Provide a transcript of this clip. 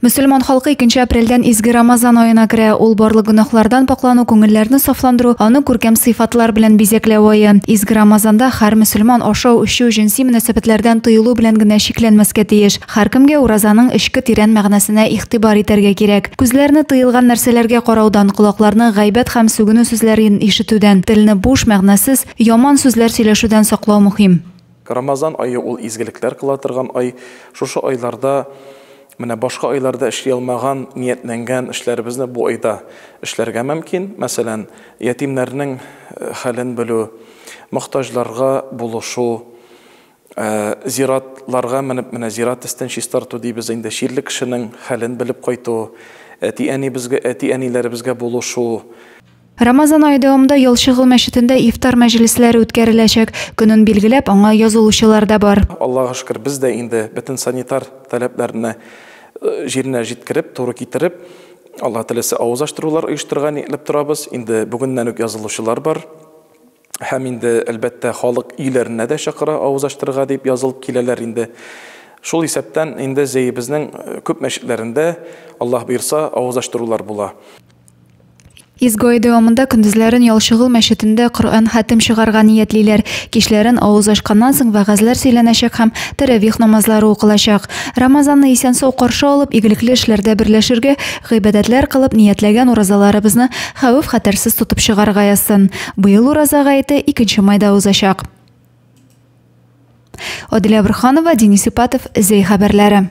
Мөселман халкы икенче апрельдән изге Рамазан аена керә. Ул барлык гөнаһлардан паклану, күңелләрне сафландыру, аны күркәм сыйфатлар белән бизәкләү ае. Изге Рамазанда һәр мөселман ашау, эчү, җенси мөнәсәбәтләрдән тыелу белән генә чикләнмәскә тиеш. Һәркемгә уразаның эчке тирән мәгънәсенә игътибар итәргә кирәк. Күзләрне тыелган нәрсәләргә караудан, колакларны гайбәт һәм сүгенү сүзләрен ишетүдән, телне буш, мәгънәсез, яман сүзләр сөйләшүдән саклау мөһим. Рамазан ае ул изгелекләр кыла торган ай. Шушы айларда, менә башка айларда эшли алмаган, ниятләнгән эшләребезне бу айда эшләргә мөмкин. Мәсәлән, ятимнәрнең хәлен белү, мохтаҗларга булышу, зиратларга менеп, менә зират өстен чистарту дибез инде, чирле кешенең хәлен белеп кайту, әти-әнибезгә, әти-әниләребезгә булышу, Рамазан ае дәвамында Ялчыгыл мәчетендә ифтар мәҗлесләре үткәреләчәк. Көнен билгеләп, аңа язылучылар да бар. Аллага шөкер, без дә инде бөтен санитар таләпләрне җиренә җиткереп, туры китереп, Алла теләсә, авыз ачтырулар оештырырга ниятләп торабыз. Инде бүгеннән үк язылучылар бар. Һәм инде, әлбәттә, халык өйләренә дә чакыра авыз ачтырырга дип язылып киләләр инде. Шул исәптән инде зәебезнең күп мәчетләрендә, Аллаһ боерса, авыз ачтырулар була. Изге ай дәвамында көндезләрен Ялчыгыл мәчетендә Коръән хәтем чыгарга ниятлиләр. Кичләрен, авыз ачканнан соң, вәгазьләр сөйләнәчәк һәм тәравих намазлары укылачак. Рамазанны исән-сау каршы алып, игелекле эшләрдә берләшергә, гыйбадәтләр кылып, ниятләгән уразаларыбызны хәвеф-хәтәрсез тотып чыгарга язсын! Быел Ураза гаете 2 майда узачак. Адилә Бурханова, Денис Ипатов, Зәй хәбәрләре.